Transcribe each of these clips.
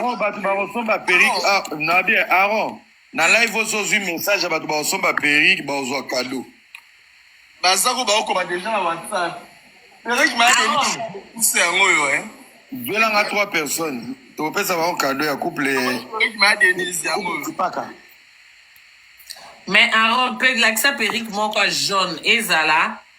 oyo bato bakosomba perike ah, na bie aron na live osi ozwi message ya bato bakosomba perike bakozwa kado baza ko bakokoma deja na whatsapp perike mayadeuse yango oyo e eh. zwelanga trois personnes tokopesa bango kado ya couple perike mayadenise yango oyo mais aron lakisa perike moko jaune ezala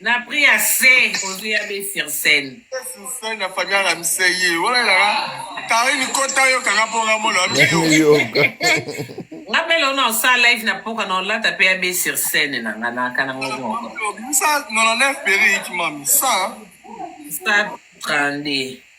Na prix ya se ozwi ya be sur scène. Sur scène na famille la mise ye. Wala la Karine kota yo kanga ponga molo amiyo. Nga belo na sa live na poka na lata pe ya be sur scène na nga na kana ngo. Musa 99 peri ki mami sa. Sa 32.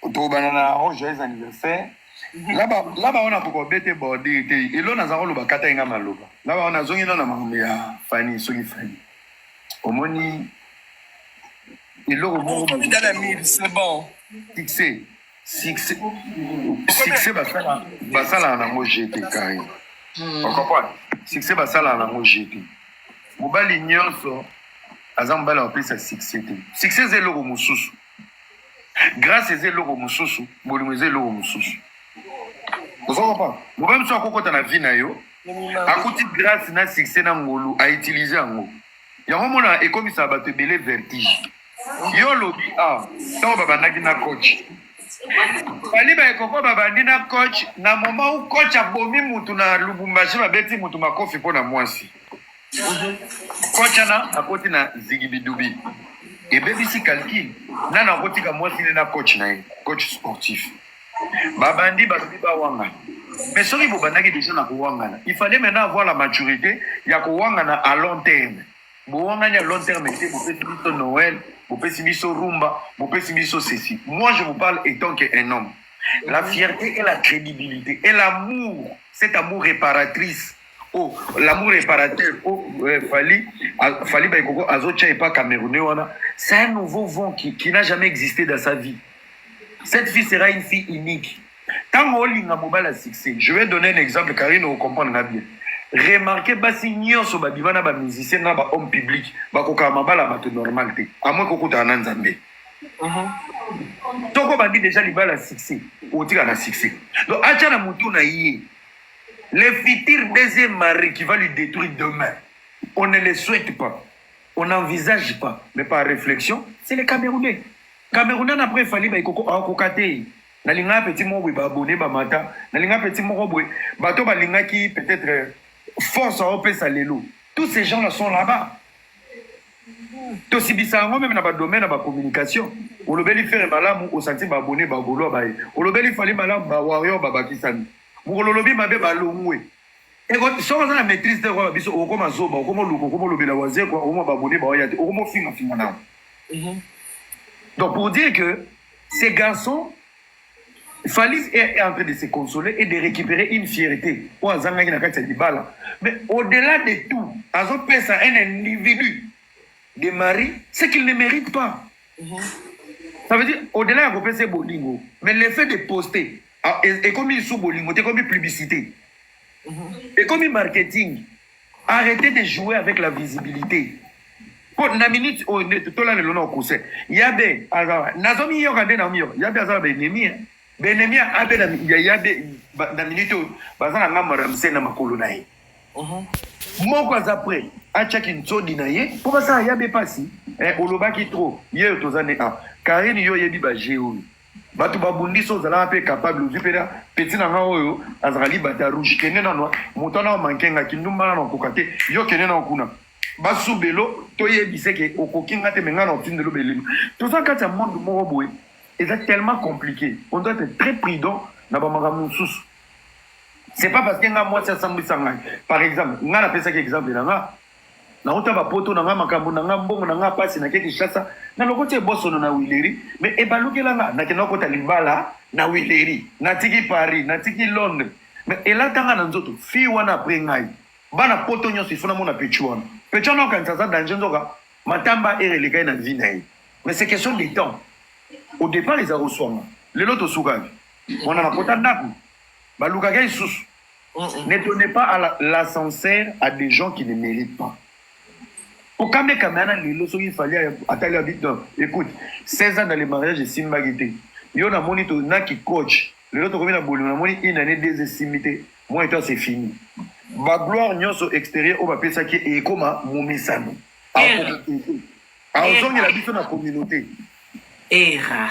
tokobanda na oh joyeux anniversaire laba laba wana koko bete bordure te elo naza koloba kata ye nga maloba laba wana azongi no na makambo ya fani soki fani omoni eloko moko Okomi dans la mille, c'est bon. succès succès succès basala basalaka nango je te kari okomprendre succès basalaka nango je te mobali nyonso aza mobali ya kopesa succès te succès eza eloko mosusu Grâce eza eloko mosusu, bolingo eza eloko mosusu. Ozo comprendre? Mobali mosusu akokota na vie na yo, akuti grâce na succès na ngolu, a utiliser yango. Yango mona ekomisaka bato ebele vertige. Yo olobi ah, ntango babandaki na coach bali baekoko babandi na coach na moment où coach abomi mutu na lubumbashi babeti mutu makofi mpo na mwasi Coach ana akoti na zigibidubi ebebisi calcul nani akotika mwasi ne na coach na ye coach sportif babandi balobi bawanga mais soki bobandaki deja na kowangana il fallait maintenant avoir la maturité ya kowangana à long terme bowangani à long terme te bopesi biso noël bopesi biso rumba bopesi biso ceci moi je vous parle étant que un homme la fierté et la crédibilité et l'amour cet amour réparatrice Oh, l'amour réparateur oh, euh, Fally, ah, Fally Baikoko azotia epa Camerounais wana c'est un nouveau vent qui, qui n'a jamais existé dans sa vie cette fille sera une fille unique ntango olinga mobali ya succès je vais donner un exemple karine okomprendre nga bien remarke basi nyonso babima na bamusicien na bahomme public bakokaka mabala ya bato normal te amwe kokutana na nzambe uh-huh. toko bandi deja libala ya succès otika na succès donc atya na motu na ye Le futur deuxième mari qui va lui détruire demain, on ne le souhaite pas, on n'envisage pas, mais par réflexion, c'est les Camerounais. Camerounais na après Fally Baikoko akoka te. Nalinga petit moko boye baabone bamata, nalinga petit moko boye bato balingaki peut-être euh, force aopesa lelo. Tous ces gens-là sont là-bas. tosibisa yango meme na badomaine ya bacommunication olobeli fere malamu osanti baabone bagoloa baye olobeli fali malamu bawarrior babakisami mokolo olobi mabe balongwe eko soki oza na maîtrise te okoyeba biso okoma zoba okoma oluka okoma olobela wazekwa okoma babone baoya te okoma ofingafinga nango mhm. donc pour dire que ces garçons Falis est en train de se consoler et de récupérer une fierté oyo azangaki na kati ya libala mais au-delà de tout azopesa un individu de mari ce qu'il ne mérite pas Ça veut dire au-delà ya kopesa ye bolingo mais le fait de poster ah, e- ekomi lisusu bolingo te ekomi publicité ekomi marketing arrêtez de jouer avec la visibilité mpo na minute oyo nde totola lelo na okuse yabe aza nazomiyoka nde namiyoka yabe aza na baennemi eh. baennemi ya abe na- ya yabe ba- na minute oyo baza na ngambo ya ramse na makolo na ye moko aza pre atia kinsodi na ye mpo basala ya be pasi eh, olobaki trop yeyo toza nde a karine yo oyebi baje oyo bato babundisi ozalaka mpe capable ozwi mpe na peti na nga oyo azalaka libata rouge kende nano moto wana omanke nga kindumba nano okoka te yo kende nao kuna basubelo toyebise ke okoki nga te me nga na otindelo belima toza kati ya monde moko boye eza tellement compliqué on doit être très prudent na bamakambo mosusu c'est pas parce que nga mwasi asambwisa ngai par exemple ngai napesaki exemple na nga nauta bapoto na ngai makambo na ngai mbongo na ngai mpasi nake kinshasa na lokoti ebosono na wileri me ebalukela nga nakenda okota libala na wileri natiki paris natiki londres me elata ngai na nzoto fille wana apres ngai bana poto nyonso ifo namona pechu wana pechu wana okanisa aza danger nzoka matamba ere elekai na vie na ye mais c'est question de temps au départ eza koswama lelo tosukaki wana nakota ndako balukaka ye lisusu ne donnez pas à la- l'ascenseur à des gens qui ne méritent pas okame kameana lelo soki fali atali abi non écoute 16 ans dans le mariage esimbaki te yo namoni to na kikoch lelo tokomi na bolingo namoni une année deux esimbi te moi et toi c'est fini bagloire nyonso extérieur oyo bapesaki ye ekoma momesano Akoki te. aozongela biso na communauté era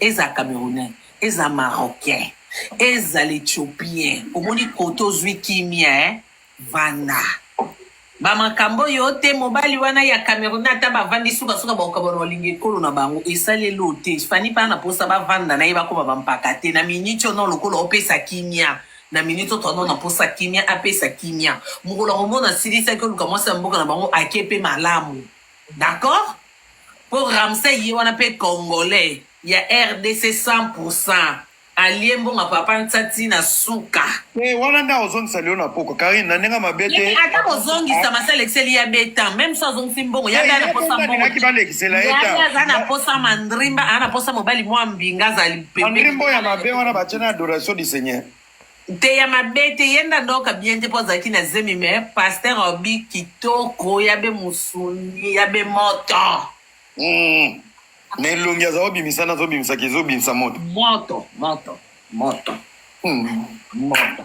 Eza camerounais, eza marocain, eza l'ethiopien omoni kote ozui kimia hein? Vanda. Ba makambo yo te mobali wana ya camerounais ata ba vandi suka suka bakokabwana balinga ekolo na bango esali elo te fanny pa na posa ba vanda na ye bakoma ba mpaka te na minute oyo non lokola opesa kimia na minute oyo tono na posa kimia apesa kimia mokolo yango mona asilisaki oluka mwasi ya mboka na bango ake pe malamu d'accord Po Ramsay ye wana pe congolais ya rdc 100 pour 100 alie mbongo ya papa Nsa ti na suka. Te wana nde akozongisa lelo na pokwa Carine na ndenge mabe te. Ye ata kozongisa basi alekiseli ya be temps meme soki azongisi mbongo ya be aza na posa mbongo te ya be aza na posa mandrimba aza na posa mobali mua mbinga azali pembeni. Mandrimba oyo ya mabe wana batie na adoration du seigneur. te ya mabe te ye nda ndoka bien te po azalaki na zemi me pasteur obi kitoko ya be musuni ya be moto mm. me elongi aza obimisa nazo bimisaka ezo bimisa moto moto moto moto mm. moto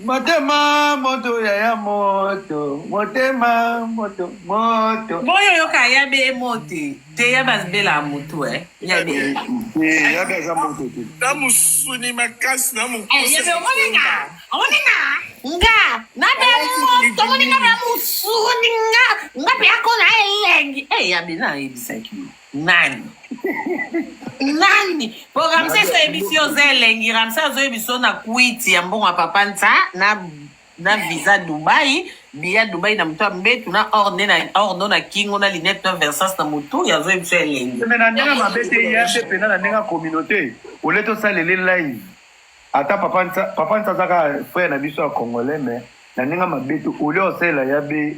motema moto yaya moto motema moto moto boyo yoka ya be mote te ya base bela mutu eh ya de eh ya base mutu te na musuni makasi na mutu eh ya be omoninga omoninga nga na be mo to moninga na musuni nga nga pe akona elengi eh ya be na ebisaki nani nani po ramses ayebi si oza elengi ramses azoyebi so na kwiti ya mbongo ya papa nsa na na visa Dubai, biya Dubai na moto ya mbetu na or nde na or ndo na kingo na linete na versance na motu ya zoi biso elengi. Mais na ndenge mabe te ye ape pena na ndenge ya communauté ole tosalele live ata papa nsa papa nsa azaka frère na biso ya congolais mais na ndenge mabe te ole osalela ya be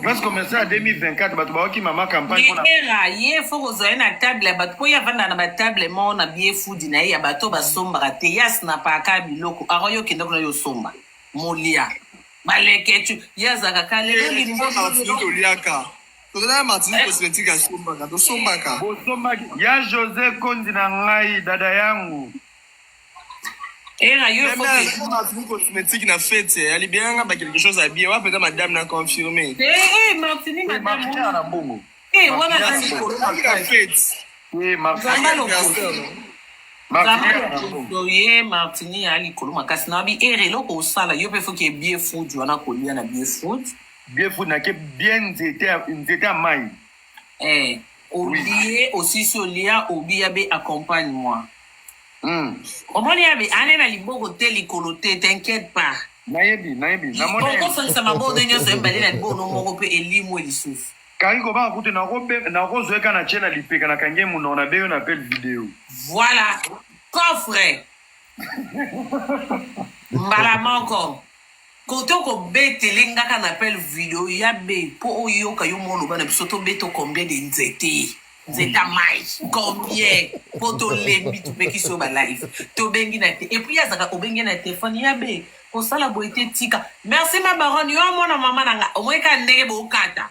Grace commerçant ya 2024 bato baoki mama campagne mpona era ye fo kozwa ye na table ya bato mpo ye avanda na batable moko na bie fudi na ye ya bato basombaka te ye asnapaka biloko aro yo okenda kuna yo osomba molia baleketu ye azalaka kale toliaka tozalaka matini cosmétique asombaka tosombaka bosombaki ya josé kondi na ngai dada yangu Era yo faut que ma vie cosmétique na fête ya libérer nga ba quelque chose à bien wapi ka madame na confirmer. Eh eh Martini madame. Martini na bongo. Eh wana kasi ko na fête. Eh Martini na bongo. ye martini ya likolo makasi na bi ere eloko osala yo mpe foki ebie food wana kolia na bie food bie food nake bie nzete ya mai Eh, olie osisi olia obi ya be accompagne moi Hmm. omoni ya be ane na liboko te likolo te t'inquiète pas nayebi nayebi namoni okosangisa maboko nde nyonso ebale na libono moko mpe elimwe lisusu kari kobanga kutu nakobe- nakozwa eka na tie na lipeka na kangi ye monoko na beyo na appel video voilà coffre mbala moko Kote oko betele nga ka na appel video ya be po oyoka yo mo oloba na biso to beto combien de nzete nzete ya mayi combien po to lembi to pekisi yo ba live to bengi na te et puis azaka obengi na telephone ya be kosala boye te tika merci ma baronne yo amona mama na nga omoni ka ndenge bokata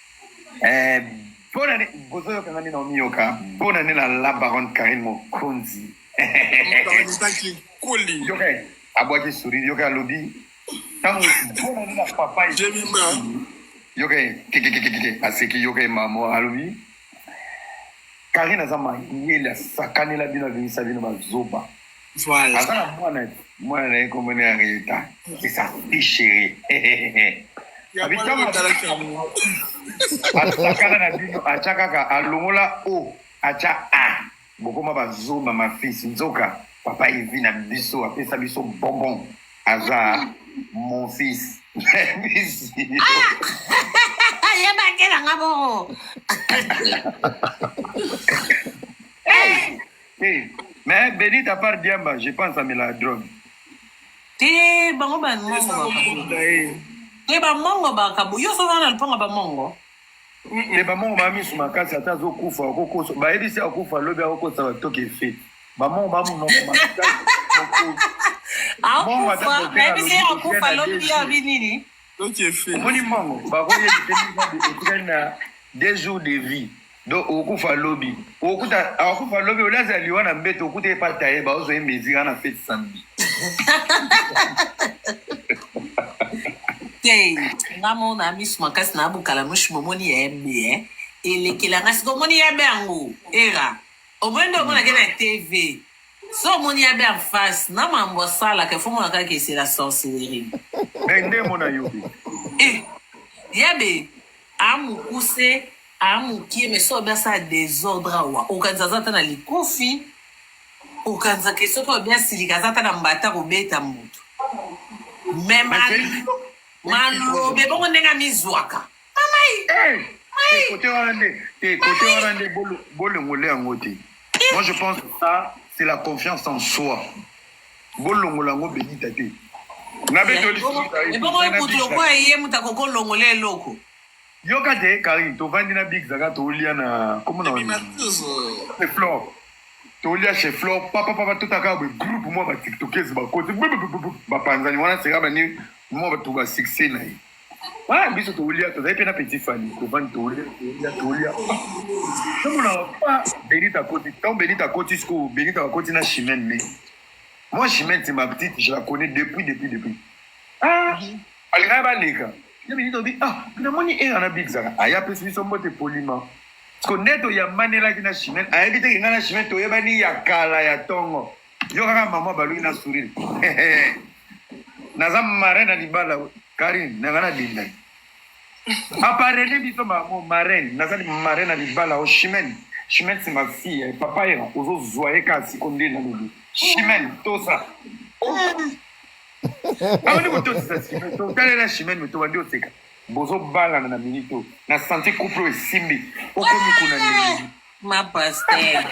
Eh, bonne année. Bozo yoka ngani na omiyoka. Bonne année na la baronne Karine Mokonzi. Tanzaki koli. Yoka abwaki sourire yoka alobi tango bonne année na papa. Jemima. Yoka kikikikiki aseki yoka mama alobi Karine aza mayele asakanela bino abimisa bino bazoba. Voilà. Aza na mwana mwana na ye kombo na ya Rita. C'est sa fille chérie. Atakaka na bino atya kaka alongola o atya a bokoma bazomba mafisi nzoka papa evi na biso apesa biso bonbon aza mon fils yebakela nga boo Te, mais Benita à part Diamba, je pense à Mela Drone. Te, bango ba mongo ba kabu. Te ba mongo ba kabu. Yo sozo na lipanga ba mongo. Te ba mongo ba misu makasi ata zo kufa okokosa. Ba yebisi akufa lobi akokosa ba toke fe. Ba mongo ba mongo makasi. akufa nayebisi ye akufa lobi ye abi nini omoni mongo bakoyebiseetikali na deux jours de vie do okufa lobi okuta akufa lobi olaza liwa na mbeto okuta epa taye baozo ye mezira na fete samedi te nga mona misu makasi na bukala mushi momoni ya mbe eh. elekela nga sika omoni ya mbe yango era omoni nde omonake na tv so omoni ya mbe en face na mambo asalaka efo mona kaka esela sorcellerie nde mona yo eh, ya mbe amukuse Ah mukie mais soki obi asala desordre awa okanisa aza ata na likofi okanisa ke soki obi asilika aza ata na mbata kobeta moto mais ma- Mais Felix- malobe bongo ndenge amizwaka mamai Eh, Mai. kote wana nde eh, kote Mai. wana nde bolo- bolongole yango te moi je pense que ça c'est la confiance en soi bolongola yango benita te na betoli ebongo ekutu lokola ye moto akoki olongola eloko Yoka te Karine tovandi na Big Zaga tolia na comment na Ebima tuzo. C'est Flore. Tolia chez Flore papa papa totaka ba groupe moi ba TikTokers ba kote ba panzani wana sera ba ni moi ba tuba succès na ye. Ah biso tolia tozali pe na petit Fally tovandi tolia tolia tolia. Somo na pa Benita koti tant Benita koti siko Benita koti na Chimène mais moi Chimène c'est ma petite je la connais depuis depuis depuis. Ah alingaki baleka Nde Benita olobi ah namoni era na big zaka aya apesi biso mbote polima siko nde toyambanelaki na chimene ayebi te kenga na chimene toyebani ya kala ya tongo yo kaka mama baluki na sourire naza marin na libala karine nanga na bindai aparene biso mamo marin nazali marin na libala o chimene chimene c'est ma fille eh, papa era ozozwa ye kasi ko nde nalobi chimene tosa abandi kotosisa sime totalela shimene me tobandi oseka bozobalana na minute oyo na santi couple oyo esimbi okomi kuna ndenge ma paster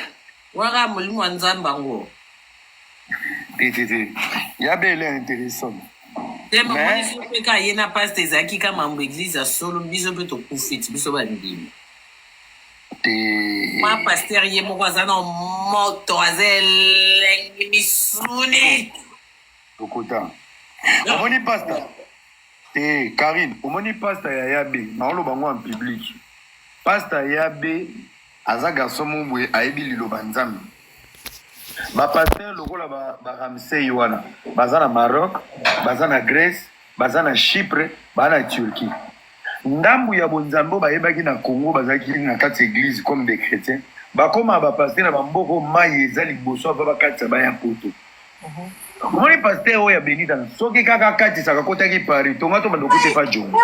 waka molimo wa nzambe yango te te te ya bele interessant te mamonisi mpe ka ye na paster ezalaki ka mambo eglize ya solo biso mpe tokufiti biso bandimi te ma paster ye moko aza na moto aza elengi misuni Lokuta. Omoni pasta? Eh, Karine, omoni pasta ya Yabe, naoloba ngo en public. Pasta Yabe aza garçon mobwe ayebi liloba Nzambe. Ba pasteur lokola ba, ba Ramsey wana, baza na Maroc, baza na Grèce, baza na Chypre, baza na Turquie. Ndambu ya bonzambe oyo bayebaki na Congo bazalaki na kati ya église comme des chrétiens. Bakoma ba pasteur na ba mboko mayi eza liboso ava bakati ya baya poto. Omoni pasteur oyo ya Benita soki kaka akatisaka kotaki Paris tonga to bando kute pa jonga.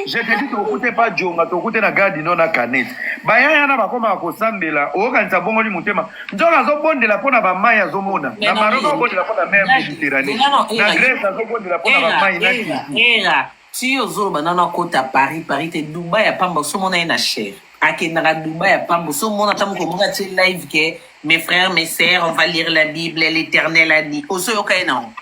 Je te dis tokute pa jonga tokute na garde no na canette. Bayaya na bakoma kosambela okanisa bongoli motema. Nzoka azobondela mpo na bamai azomona. Na Maroc azobondela mpo na mer Mediterranee. Na Grèce azobondela mpo na bamai na Turquie. Tii ozoloba nanu akota Paris Paris te Dubai ya pamba oso mona ye na chere akendaka Dubai ya pamba oso mona ata mokolo moko atie live ke mes frères mes sœurs on va lire la bible l'éternel a dit oso yoka ye nango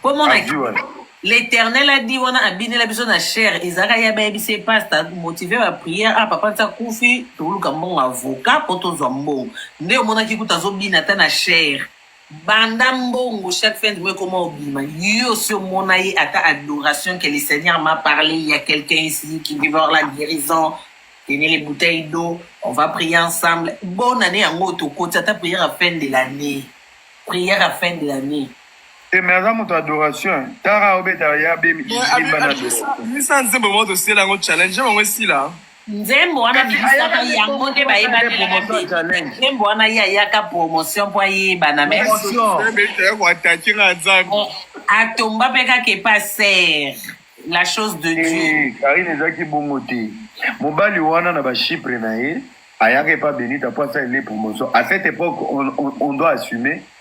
po mona Adi wana. l'éternel a dit wana abinela biso na chere ezalaka ye abayebisi ye pasta motive ba prière ah papa nsa kufi toluka mbongo avocat po tozwa mbongo nde omonaki kuta azobina ata na chere Banda mbongo chaque fin du mois comment obima yo si omona ye ata adoration que le Seigneur m'a parlé il y a quelqu'un ici qui veut voir la guérison tenez les bouteilles d'eau on va prier ensemble bonne année yango tokoti ata prière à fin de l'année prière à fin de l'année te me aza moto adoration tara obetaka ya bemisa nzembo moko tosela yango challenge bango esila nzembo wana bibisaka yango nde bayebanelaka te nzembo wana ye ayaka promotion mpo ayebana maiatache na nzambe oh, atomba mpe kaka epa ser la chose de eh, dieu karine ezalaki bongo te mobali wana na bachipre na ye ayaka epa benita mpo asala ele promotion à cette époque on, on, on doit assumer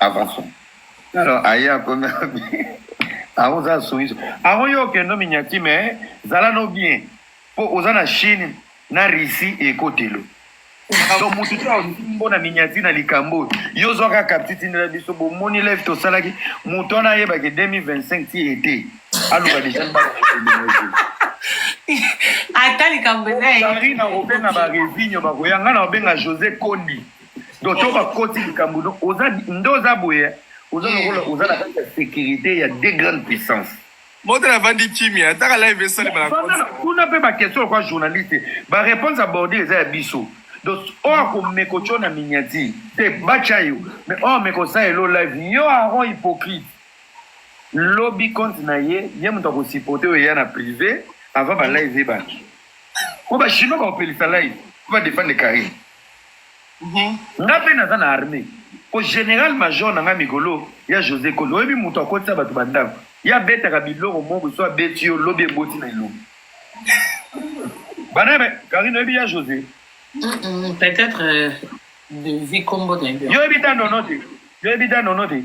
Avançons. Alors, aye akomi aho oza soumise aho yo okendo minyati me zala no bien mpo oza na chine na russie ekotelo to motu te aosimbo na minyati na likambo oyo yo ozwaka kapti tindela biso bomoni live tosalaki moto wana ayebaki 2025 ti ete aloba deja ata likambo eza na obenga baresinyo bakoya ngai na obenga josé kondi donc to bakoti likambo no oza nde oza boye oza lokola oza na kati ya sécurité ya deux grandes puissances moto navandi kimia ataka live esalemana kuna mpe baquestion lokola journaliste baréponse aborde eza ya biso donc oyo oh, akomeko tyo na miniati te batya yo mais oyo oh, amekosala elo live yo aron hypocrite lobi compte na ye ye moto akosupporte oyo eya na privé avant balive ebaki po bachinois bakopelisa live po badefendre carine Nga pe naza na armee po general major na nga migolo y'a Jose koli oyebi mutu akotisa batu ba ndaku ye abetaka biloko moko boye soki abeti yo lobi eboti na elongi bana y'a carine oyebi y'a Jose peut etre de vie kombo naye yo oyebi da nono te yo oyebi da nono te.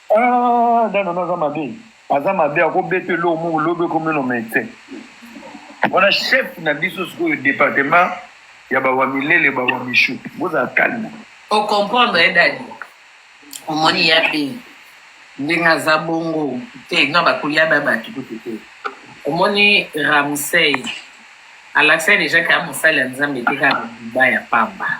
Ah dada naza mabe aza mabe akobeta eloko moko lobi ekomi no mete wana chef na biso sikoyo departement ya bawamilele bawamishu bozala kalme okomprendre ye dadi omoni ya be ndenge aza bongo te na bakolia ba bato kutu te omoni ramsey alakisaki deja kaya mosali ya nzambe te kaka biba ya pamba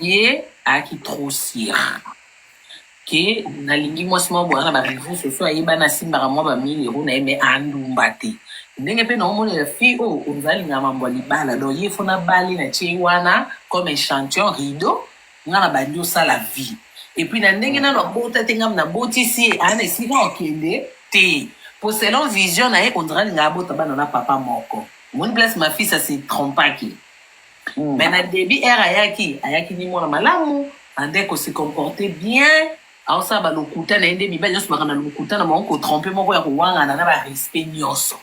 ye ayaki trop sur ke nalingi mwasi moko boyaka ba reseaux sociaux ayebani asimbaka mwa ba 1000 euro na ye mais andumba te ndenge mpe naomonela fille oyo oza alinga mambo ya libala donc ye fo nabali na tie ye wana comme echantion rideau nga na bandi osala vie epuis na ndenge nano abota te ngam nabotisi ye aa na esika akende te po selon vision na ye ondra alinga abota bana na papa moko omoni place mafisa se trompaki mm. mais na debut heure ayaki ayaki ni mwana malamu ande ko se comporter bien aosala balokuta na ye nde mibali nyonso baka na lokuta na bango kotrompe moko ya kowangana na barespect nyonso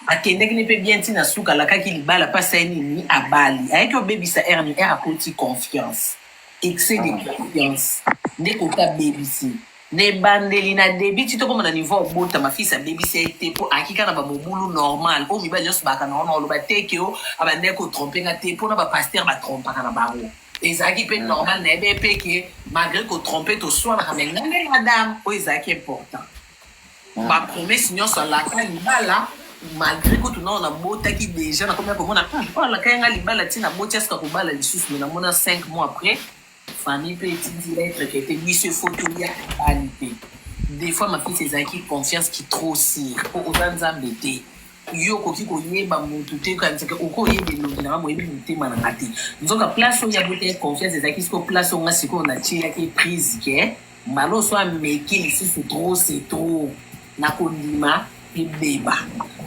akendaki ne mpe bien ntina suka alakaki libala mpasi aye nini abali ayaki obebisa r ni r akoti confiance excès de confiance nde kota bebisi Na ebandeli na debut ti tokomona niveau ya kobotama fils abebisa ye te mpo ayaki kaka na bamobulu normal oyo mibali nyonso baaka na wana oloba te ke o abandaki kotrompe nga te mpo na bapaster batrompaka na bango ezalaki mpe normal na yebe mpe ke malgré kotrompe toswanaka me nga nde madame oyo ezalaki important bapromese nyonso alaka libala malgré kutu nao nabotaki déjà nakomaki komona "Hmm, oyo alakaki nga libala ti naboti asika kobala lisusu me namona 5 mois après Famille pe etindi lettre que te biso il faut tolia mibali te. Des fois ma fils ezalaki confiance qui trop sire po oza nzambe te. Yo okoki koyeba mutu te okanisa ke okoki oyeba elongi na nga moyebi motema na nga te. Nzoka place oyo abotaki confiance ezalaki sikoyo place oyo nga sikoyo natielaki prise ke mbala oso ameki lisusu trop c'est trop na kondima ebeba.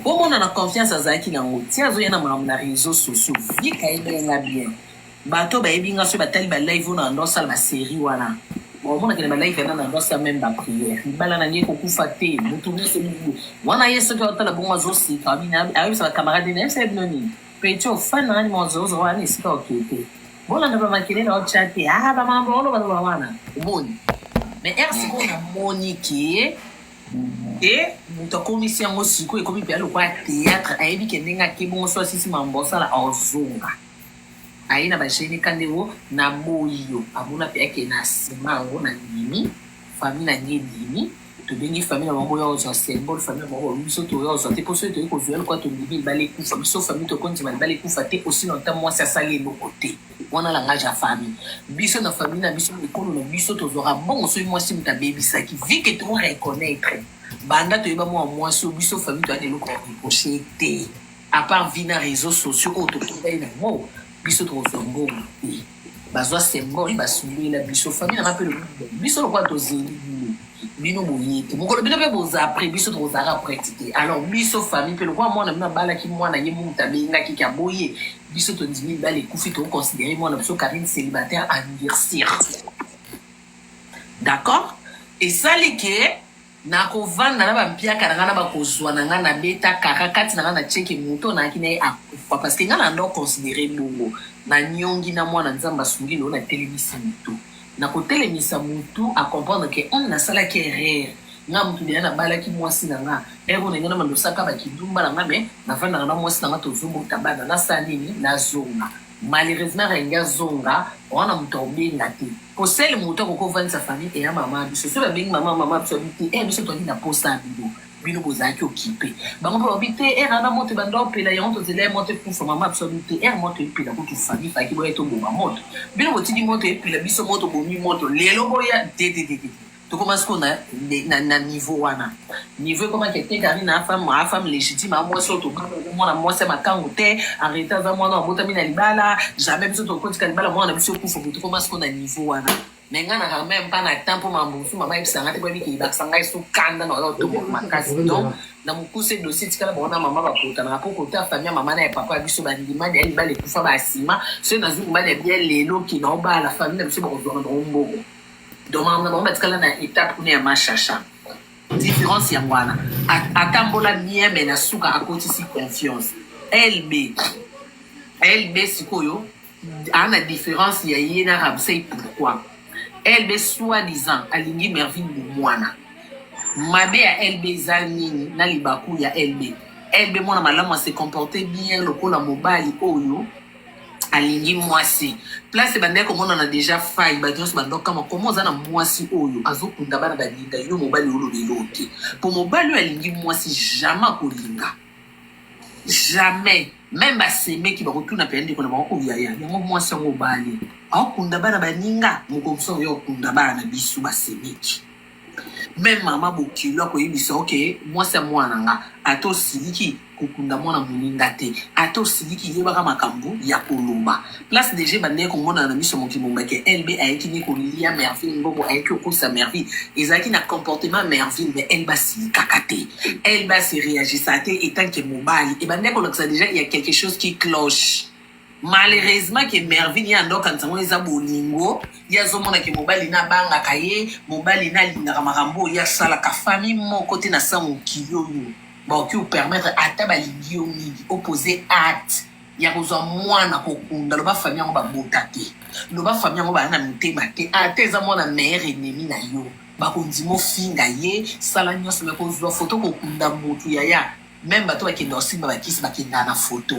Bomona na confiance azalaki na yango ti azoya na makambo na reseaux sociaux. Vic ayebela nga bien. Bato bayebi nga soki batali ba live oyo na nando asala ba serie wana bakomonaka na ba live yana nando asala meme ba prière libala na ngai ekokufa te moto nyonso mingi wana ye soki aotala bongo azosika abini ayebisa ba camarade na yebisa bino nini petit ofani nanga nima ozozo wana esika okee te bolanda ba makele na otya te aa bamambo oloba loba wana omoni mais ere sikoyo namoni ke e moto akomisi yango sikoyo ekomi mpenza lokola théâtre ayebi ke ndenge akebongo so asisi mambo osala ozonga aye na ba gene kande o na boyi yo amona pe ake na sima yango na ndimi famille na ngai endimi tobengi famille na bango oya ozwa symbole famille na bango biso toya ozwa te mpo soki toyei kozwa eloko ya tondimi libala ekufa biso famille tokondima libala ekufa te osi na nta mwasi asali eloko te wana langage ya famille biso na famille na biso ekolo na biso tozwaka mbongo soki mwasi moto abebisaki vi ke to reconnaitre banda toyeba mwa mwasi oyo biso famille toyaka eloko ya reproche te à part vie na réseaux sociaux oyo tokutani na yango biso tokozwa mbongo te bazwa sembor ye basundela biso famille nanga mpe lobi biso lokola tozeli bino bino boye te mokolo bino mpe boza après biso tokozala après ti te alors biso famille mpe lokola mwana bino abalaki mwana ye mutu abengaki ke aboye biso tondimi bala ekufi tokoconsidere mwana biso karine célibataire andircir d'accord esali ke nakovanda na bampiaka na ngai na bakozwa na ngai nabeta kaka kati na ngai na cheke moto nayaki na ye akufa parce que ngai na ndo considere bongo nanyongi na mwana nzambe asungi loo natelemisi moto nakotelemisa motu acomprendre ke hum nasalaki erreur nga motu deya nabalaki mwasi na nga ero na ngai na mandosaka bakidumba na nga me navandaka na mwasi na nga tozobota bana nasala nini nazonga Malheureusement Renge azonga oa na moto akobenga te po sele moto akoki ovandisa famille eya mama biso soki babengi mama mama biso abi te e biso toyaki na posa ya bino bino bozalaki okipe bango mpe babi te ere ana moto ebanda opela yango tozela ye moto ekufa mama biso abi te ere moto epela kutu famille faki boya toboma moto bino botiki moto epela biso moto bomi moto lelo boya dedededede tokoma sikoyo na, na, na niveau wana niveau ekomaki ete karina afam afam légitime a mwasi oyo tokomona mwasi ya makango te arrete aza mwana abotami na libala jamais biso tokotika libala mwana na biso ekufa boye tokoma sikoyo na niveau wana me ngai na quand même pas na temps mpo mambusu mama yebisa ngai te boyebi keyebakisa ngai so kanda na oyo otoboka makasi donc na mokuse dossier tikala baona mama bakotanaka mpo kota famille ya mama na ya papa ya biso bandimani ya libala ekufa basima soki nazwi mobali ya bia lelo kina obala famille na biso bakozwaka bango mbongo donc makambo na bango batikala na etape kuna ya mashasha différence yango wana atambola bien me na suka akotisi confiance lb lb sikoyo aa na différence ya ye na rabsey pourquoi lb soit disant alingi merville bomwana mabe ya lb eza nini na libaku ya lb lb mwana malamu ase comporte bien lokola mobali oyo alingi mwasi place ebandaki komonana deja fai bato nyonso bando kama koma oza na mwasi oyo azokunda bana balinga yo mobali olobeli oyo te mpo mobali oyo alingi mwasi jamais akolinga jamais meme basemeki bakotuna mpe ndeko na bango oyo yaya yango mwasi yango obali aokunda bana baninga mokomso oyo okunda bana na biso basemeki Meme mama bokilo akoyebisa yo ke mwasi ya mwana na nga ata osiliki kokunda mwana moninga te ata osiliki yebaka makambo ya koloba place deja ebandaki komonana na miso mokili mobimba ke lb ayeki nde kolia merville mbongo ayeki kokosa merville ezalaki na comportement ya merville mais lb asilikaka te lb asereagisaka te etant ke mobali ebandaki kolakisa deja ya quelque chose qui cloche malheureusement ke mervine ye ando akanisa ngo eza bolingo ye azomona ke mobali na abangaka ye mobali na alingaka makambo oyo ye asalaka famille moko te na sa mokili oyo bakoki kopermettre ata balingi yo mingi opose acte ya kozwa mwana kokunda loba famille yango babota te loba famille yango baa na motema te ata eza mwana meilleur ennemi na yo bakondima ofinga ye sala nyonso me kozwa foto kokunda motu yaya Meme bato bakenda kosimba bakisi bakendaka na foto.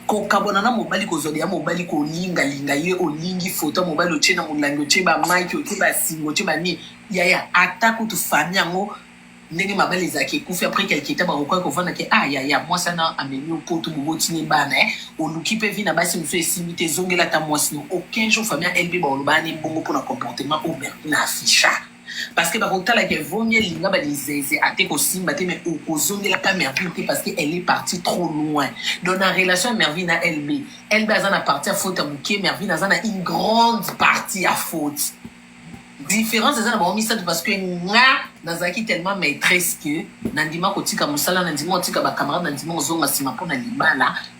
Kokabwana na mobali, kozwa biya mobali, kolingalinga ye, olingi foto ya mobali, otie na molangi, otie bamaki, otie basinga, otie banini. Yaya, ata kutu fami yango ndenge mabala ezalaka ekufi apres kelketa bakokoya kovanda ke ah yaya mwasi ana amemi opoto boboti ne bana eh, oluki mpe vi na basi mosusu esimbi te ezongela ata mwasi no aucun jour famille ya lb bakolobana ne bongo mpo na comportement oyo bertina afficha parce que bakotala ke vongi elinga balizeze ate kosimba te mais okozongela mpe merville te parce que elle est partie trop loin donc na relation ya merville na lb lb aza na partie ya faute ya moke merville aza na une grande partie ya faute différence eza na bango misato parce que nga nazalaki tellement maîtresse que nandima kotika mosala nandima kotika bacamarade nandima kozonga nsima mpo na libala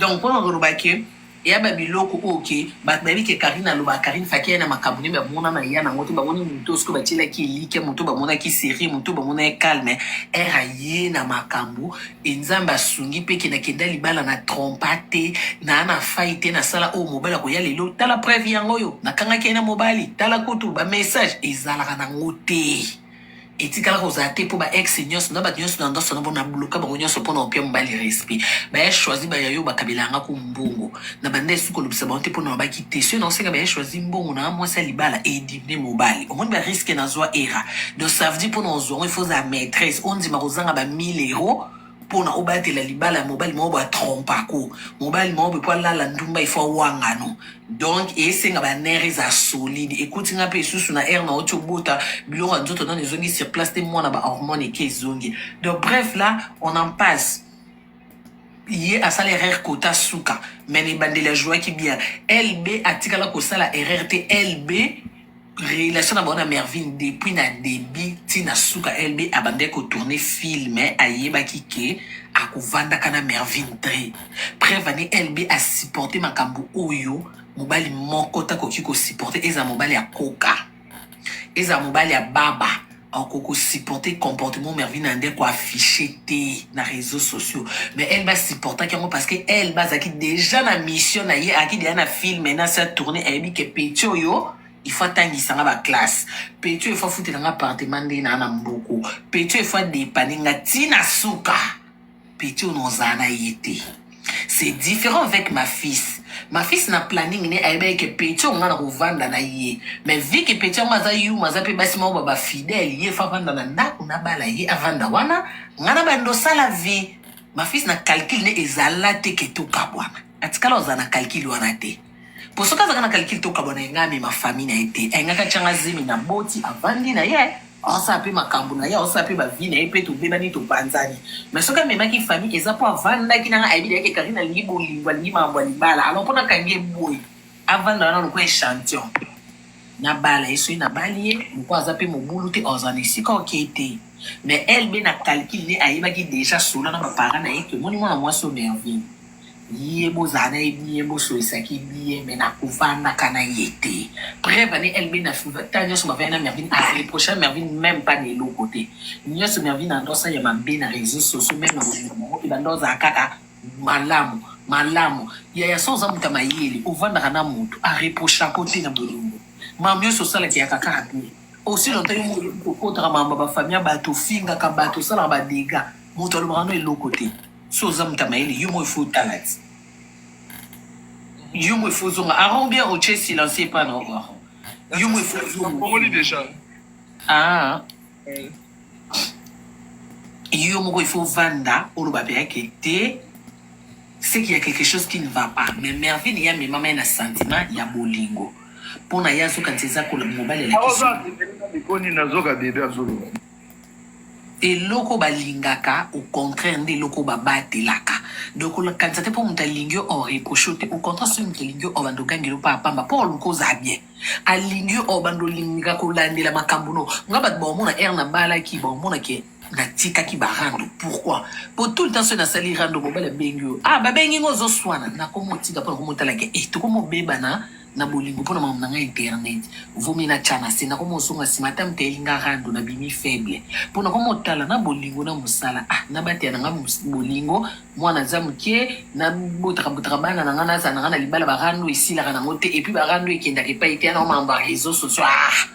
Donc mpona koloba ke eya ba biloko oyo ke bato bayebi ke Carine alobaka Carine faki aya na makambo nde bamona na ya nango te bamoni moto oyo soki batielaki elikya moto bamonaki serie moto bamona ye calme ere aye na makambo e nzambe asungi mpe ke nakenda libala na trompa te naa na fai te nasala oyo mobali akoya lelo tala preuve yango oyo nakangaki ye na mobali tala kutu ba message ezalaka nango te Etikala kozala te po ba ex nionso na batu nionso na ndosso na bo na bloka bango nionso po na opia mobali respect baye choisi ba ya yo bakabela yanga ko mbongo na banda esu kolobisa bango te po na babaki te soki nao senga baye choisi mbongo na nga mwasi ya libala edimne mobali omoni ba risque na zua era donc ça veut dire po na ozua ngo il faut ozala maitresse ondima kozanga ba 1000 euros mpo na obatela libala ya mobali moko batrompako mobali moko mpo alala ndumba ifo awangano donc esenga banere eza solide ekuti nga mpe esusu na aire na oti obota biloko ya nzoto nano ezongi sur place te mwana bahormone eke ezongi donc bref là on en passe ye asala erreur kota suka mais na ebandeli ajouaki bien lb atikala kosala erreur te lb relation na bango na mervine depuis na debut ti na suka lb abandaki kotourne film ayebaki ke akovandaka na mervine tre preuve ani lb asupporte makambo oyo mobali moko te akoki kosupporte ezala mobali ya koka ezala mobali ya baba ako ko supporter comportement Mervine Ande ko afficher te na réseaux sociaux mais elle ba supportaki yango parce que elle bazaki déjà na mission na ye aki déjà na film na sa tourner ayebi ke petit oyo il faut atangisa nga ba classe petit oyo il faut afutela nga appartement nde na na mboko petit oyo il faut adepanne nga ti na suka petit oyo nozala na ye te c'est différent avec ma fils ma fils na planning ne ayebaki ke petit oyo nga na kovanda na ye mais vi ke petit yango aza yuma aza mpe basi moko baba fidèle ye fa avanda na ndako nabala ye avanda wana nga na bando osala vie ma fils na calcule ne ezala te ke tokabwana atikala ozala na calcule wana te po soki azalaka na calcul tokabwana ye ngai amema famille na ye te ayingaka atya nga zemi na boti avandi na ye aosala mpe makambo na ye aosala mpe bavi na ye mpe tobebani topanzani mais soki amemaki famille eza mpo avandaki na ngai ayebi dayeke karine alingi bolingo alingi makambo ya libala alors mpo nakangi ye boye avanda wana lokola echantillon nabala ye soki nabali ye lokola aza mpe mobulu te ozala na esika okei te mais elbe na calcul ne ayebaki déjà sola na baparent na ye tomoni mwana mwasi omerville ye bozala na ye bien bosolisaki bien mais na kovandaka na ye te preuve ani elbe na ta nyonso bavaya na mervine areprocha mervine même pas na eloko te nyonso mervine andosa ya mabe na réseau sociaux même na bolingo bango te banda ozala kaka malamu malamu yaya so oza moto ya mayele ovandaka na moto areprocha ko te na bolingo mamu nyonso osalaki yaka kaka bien osi lonta yo okotaka makambo ya bafamille ya bato ofingaka bato osalaka badega moto alobaka no eloko te Soki oza moto ya mayele yo moko il faut otala ti yo moko il faut ozonga aron ou bien otie silencieux epa na oko aron yo moko il faut ozonga Nakongoli deja. ah Eh, yo moko il faut ovanda oloba mpe yake te c'est qu'il y a quelque chose qui ne va pas mais mervine ye amemama ye na sentiment ya bolingo mpo na ye azokanisa eza kola mobali alakisi Aoza mikoni nazoka bebe azoloba. Eloko balingaka au contraire nde eloko babatelaka donc okanisa te mpo moto alingi yo o reproche yo te au contraire soki moto alingi yo obanda ogangela yo pamba pamba mpo oluka oza bien alingi yo obanda olinga kolandela makambo no nga bato baomona ere nabalaki baomona ke natikaki barando pourquoi mpo tout le temps soki nasali rando mobali abengi yo ah babengi ngo ozoswana nakomotika mpo nakomotalake e eh, tokomobebana na bolingo mpo na makambo na ngai internet vomi na tya na se nakoma ozonga nsima ata mteyeli nga rando na bimi faible mpo nakoma otala na bolingo na mosala ah nabatela na ngai bolingo mwana aza moke nabotaka botaka bana na ngai nazala na ngai na libala barando esilaka nango te epuis barando ekendaka epai te yanao makambo ya réseau sociaux ah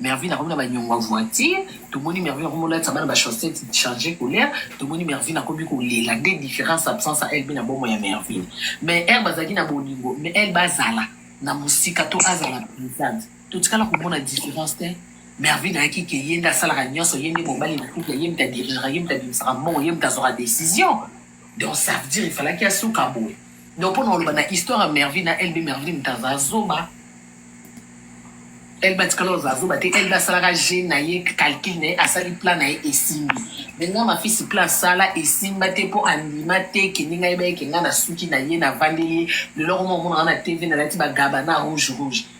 Mervine akomi na ba nyongo ya voiture tomoni Mervine akomi olatisa bana ba chaussette change couleur tomoni Mervine akomi kolela nde différence absence ya elbe na bomo ya Mervine mais heure bazalaki na bolingo mais elbe azala na mosika to azala presente totikala komona différence te Mervine ayaki ke ye nde asalaka nyonso ye nde mobali na couple ye moto adirigaka ye moto abimisaka mbongo ye moto azwaka decision Donc ça veut dire il fallait qu'il asuka boye. Donc pona oloba na histoire ya Mervine na LB Mervine taza zoba. Elle batikala oza zoba te elle basalaka je na ye calcul na ye asali plan na ye esimbi me nga mafisi plan asala esimba te mpo andima te kende ngai bayeke ngai na suki na ye navandeli ye lelo koma omonaka na tv nalati bagaba na rouge rouge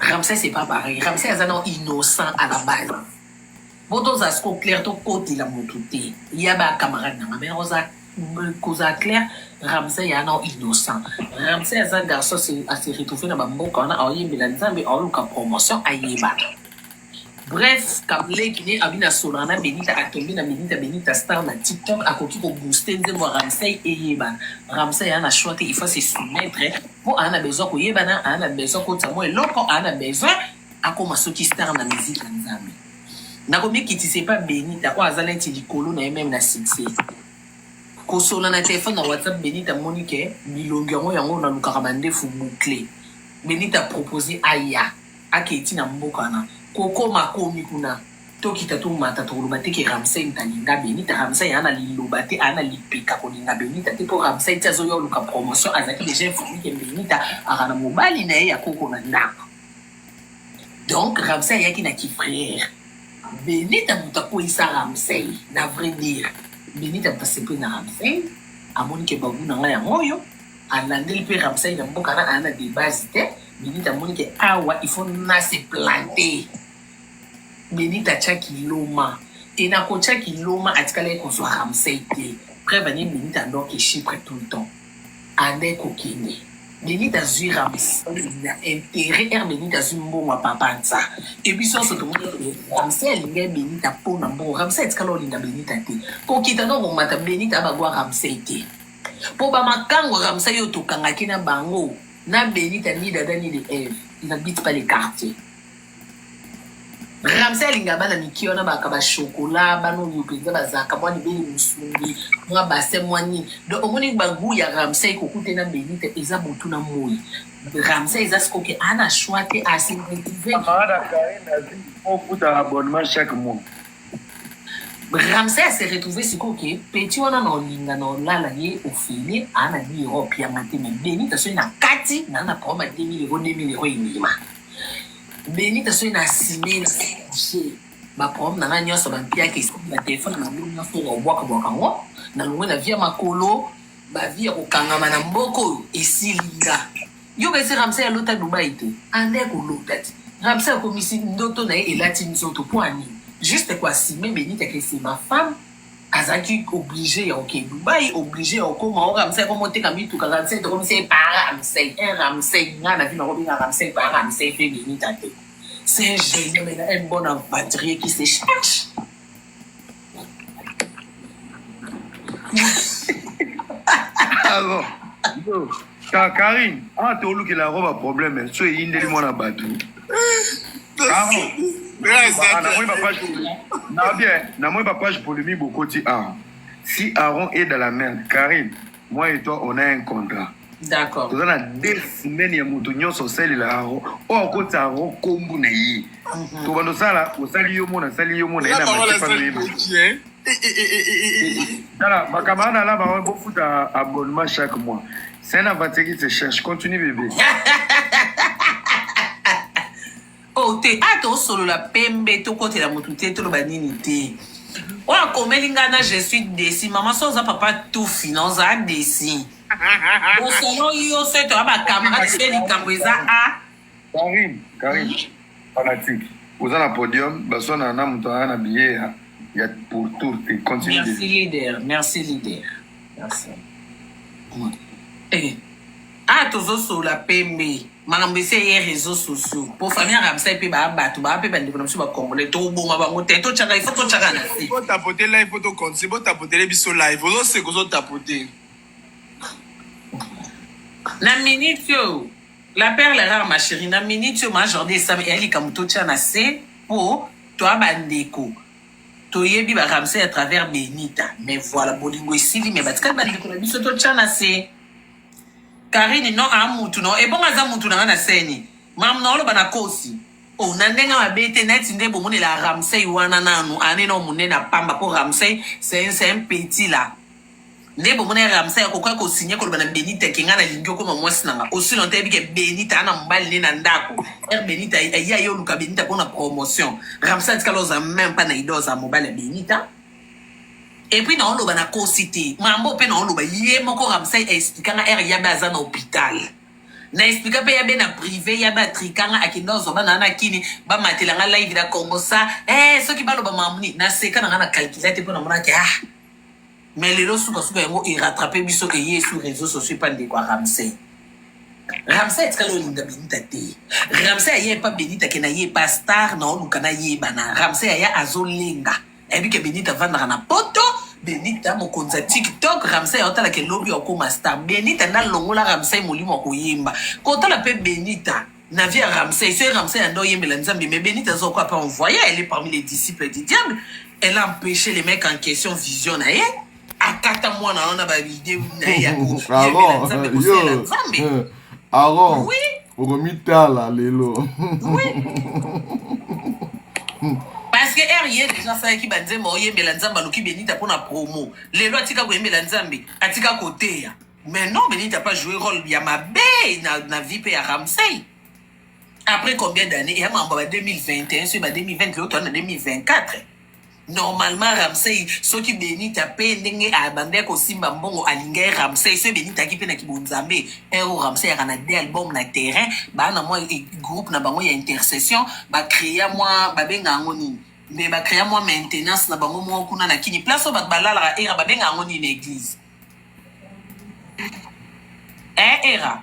Ramsey c'est pas pareil. Ramsey aza non innocent à la base. Boto za siko clair to koti la mutu te. Ya ba camarade na mais oza koza clair Ramsey ya non innocent. Ramsey aza garçon à se retrouver na ba mboka wana aoyembela Nzambe aoluka promotion ayebana. Bref kam leki ne abi na solaka na benita a tombe na benita benita star na tiktok a koki ko booster nzembo ya ramsey eyebana ramsey aa na choix te il faut a se soumettre po aa na besoin ko yebana aa na besoin akotisa mwa eloko aa na besoin akoma soki star na musique ya nzambe na ko mikitisa epa benita oyo aza neti likolo na ye meme na succès ko solola na telephone na whatsapp benita amoni ke bilongi yango yango na lukaka ba ndefu boucle benita propose aya Akei ti na mboka wana koko makomi kuna tokita tomata tokoloba te ke ramsey nta linga benita ramsey aa na liloba te aa na lipeka kolinga benita te po ramsey ti azoya oluka promotion azalaki deja informe ke benita aka na mobali na ye ya koko na ndaku donc ramsey ayaki na ki frere benita moto akweyisa ramsey na vrai dire benita moto asepeli na ramsey amoni ke bagu na ngai yango oyo alandeli mpe ramsey na mboka na aa na debase te Benita amoni ke awa il faut na se planter. Benita atyaki loma te na kotyaki loma atikalaki kozwa ramsey te preuve anie benita andorki chypre tout le temps andai kokende benita azwi ramsey na intérêt ere benita azwi mbongo ya papa nsa e biso nyonso tomoni ramsey alingai benita mpo na mbongo ramsey atikala olinga benita te kokita no komata benita abagwa ramsey te mpo bamakango ramsey oyo tokangaki na bango Na Benita ni Dada ni de Eve, ils n'habitent pas les quartiers. Ramsey alinga bana mike wana baka ba chocolat bana oyo mpenza bazalaka mwa libele mosungi mwa basin mwa nini donc omoni bagu ya ramsey kokute na benita eza butu na moi ramsey eza sikoke ana choix te asintetise ofuta abonnement chaque mois Ramsey a se retrouver sikoyo ke petit wana na olinga na olala ye ofele a na bi Europe ya mateme beni ta soki na kati na na proma 2000 euro 2000 euro imilima beni ta soki na sime na couche ba prom na na nyonso ba mpia ke soki na telefone na bino nyonso na obwaka bwaka ngo na longwe na via makolo ba via kokangama na mboko oyo esili nga Yo kasi Ramsey alota Dubai te. Anda ya kolota ti. Ramsey akomisi ndoto na ye elati nzoto po ani. Juste ko assumer Benita que c'est ma femme azalaki oblige ya oke Dubai oblige ya okoma o Ramsey akomoteka mituka Ramsey tokomisi ye pa Ramsey un Ramsey nga na vie nakobenga Ramsey pa Ramsey pe Benita te. C'est un jeune homme, un bon aventurier qui se cherche. Alors, yo, Ka- Karine, ah, tolukela yango ba problème so eyindeli mwana bato Caro, ah, namoni ba page na bien namoni ba page polémique bokoti awa si aaron est dans la merde karine moi et toi on a un contrat d'accord toza na deux semaines ya moto nyonso osalela yango oyo akotisa yango kombu na ye mhm. tobanda osala osali yo mona asali yo mona yena tala makambo ana alaba wana bofuta abonnement chaque mois c'est un aventuriste cherche continue bebe o oh, te ata ah, osolola pembe tokotela motu te toloba nini te oyo akomeli ngai na je suis desi mama so oza papa tufi na oza desi osolo yo so ete oya bacamarade so likambo eza a karine karine fanatique oza na podium baswana na moto aa na biye ya ya pour tour te continue merci leader merci leader merci eh, a ah, tozosolola pembe makambo esi eye réseau sociaux mpo famille ya ramsai mpe baa bato baa mpe bandeko na biso bacongolais toboma bango te totyaka ifo totyaka na se botapote live mpo tokontinue botapotele biso live ozoseka ozotapote na minute oyo la perle rare ma chérie na minute oyo majorde esami eya likambo totya na se mpo toa bandeko toyebi baramsai à travers benita mais voilà bolingo esili me batikali bandeko na biso totya na se Karine non a mutu non ebongo aza mutu na nga na seni mam na oloba na kosi o oh, na ndenge mabe te neti nde bomonela ramsey wana nanu ane na monene apamba mpo ramsey c'est un petit là nde bomona ramsey akokoya kosigne koloba na benita ke ngai nalingi okoma mwasi na nga osi lonta yebi ke benita ana mobali nde na ndako r benita aya ye oluka benita mpo na promotion ramsey atikala oza meme mpa na ide oza mobali ya benita Et puis nao loba na kosi te. Mambo pe nao loba ye moko Ramsay a expliqua nga heure yabe aza na hopital. Na expliqua pe yabe na prive yabe a triqua nga akenda ozwa bana na kini ba matela nga live na congo sa eh soki ba loba mambo nini na seka na nga na calcula te po na mona ke ah mais lelo suka suka yango e rattraper biso ke ye sur réseaux sociaux pa ndeko a Ramsay. Ramsay etikala olinga Benita te. Ramsay aye pa Benita ke na ye pa star na oluka na yebana. Ramsay aya azolenga. Nayebi ke Benita avandaka na poto. Benita mokonzi ya TikTok, Ramsay aotala ke lobi okoma star. Benita nda longola Ramsay molimo ya koyemba. Kotala pe Benita na vie ya Ramsay, soki Ramsay anda oyembela Nzambe, mais Benita aza okwa pe envoyer, elle est parmi les disciples du diable. Elle a empêché les mecs en question vision na ye. akata mwana wana ba idee na ye ya koyemela nzambe kosela nzambe aron oui. okomitala lelo oui. parce que r ye deja asalaki banzembo oyembela nzambe aluki benita mpo na promo lelo atika koyembela nzambe atika koteya mais non benita pas joué rôle ya mabe na, na vie mpe ya ramsey après combien d'année eya mambo ba 2021 soki ba 2020 lelo toa na 2024 Normalement Ramsey soki Benita pe ndenge abandaki kosimba mbongo alingaki Ramsey soki Benita aki pe na kibonzambe un oyo Ramsey yaka na deux album na terrain baa na mwa e- groupe na bango ya intercession ba crea mwa babenga yango nini mais ba crea mwa maintenance na bango moko kuna na kini place oyo bato balalaka era babenga yango nini na eglise eh era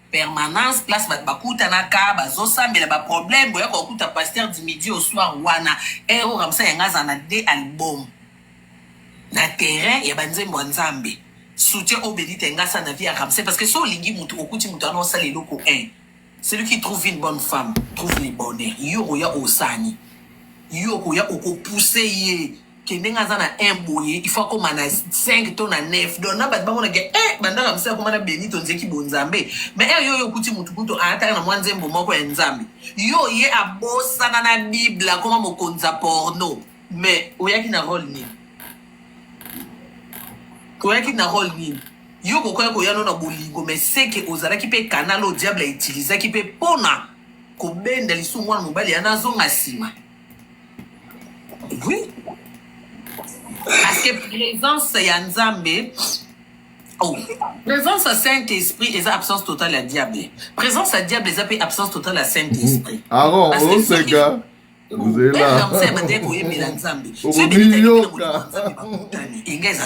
permanence place bato bakutanaka bazosambela baproblème boyaka kokuta pasteur du midi au soir wana ero ramsa yanga aza na de album na terrain ya banzembo ya nzambe soutien oyo belite yanga asa na vie ya ramse parce que so olingi motu okuti motu wana osala eloko 1 celui qui trouve une bonne femme trouve le bonheur yo okoya osani yo okoya okopuse ye ke ndenge aza na un boye il faut akoma na 5 to na 9 donc na bato bamona ke e bandaka mosala koma na beni tonzeki bonzambe ma ere yo oyo okuti motu kutu aataka na mwa nzembo moko ya nzambe yo ye abosana na bible akoma mokonzi ya porno mais oyaki na role nini oyaki na role nini yo kokoya koya no na bolingo mais seke ozalaki mpe kanal oyo diable utilisaki mpe mpona kobenda lisusu mwana mobali yana azonga nsima oui parce que présence ya nzambe Oh. Présence à Saint-Esprit eza absence totale ya diable. Présence à diable eza pe absence totale ya Saint-Esprit. Mm. Ah non, Parce que soki oseka ozela nzambe abandaki koyembela nzambe soki okomiyoka enga eza